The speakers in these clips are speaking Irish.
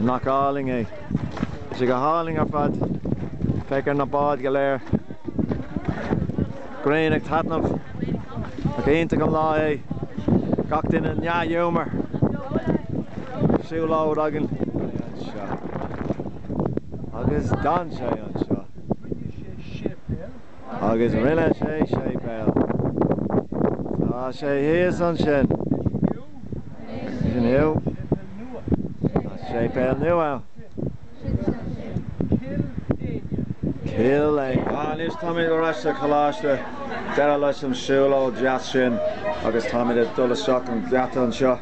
Nach álainn é. Tá sé go hálainn ar fad. Féach ar na báid go léir. Grian ag taitneamh. Nach iontach an lá é. Gach duine i ndea-ghiúmar. Siúlóid againn. Agus d'fhan sé anseo. Agus rinne sé séipéal. Tá sé thíos ansin. Is inniu tá séipéal nua ansin. Cill Éinne. Anois táimid ar ais sa choláiste. Deireadh leis an siúlóid deas sin agus táimid ag dul isteach an geata anseo.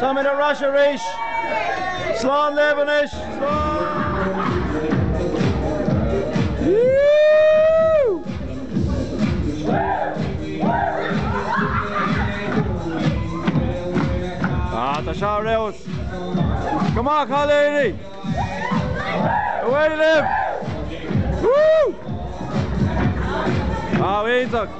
Táimid ar ais arís! Slán libh anois! Tá sé ar fheabhas! Go maith a chailíní! Away libh! Woo! Á, iontach!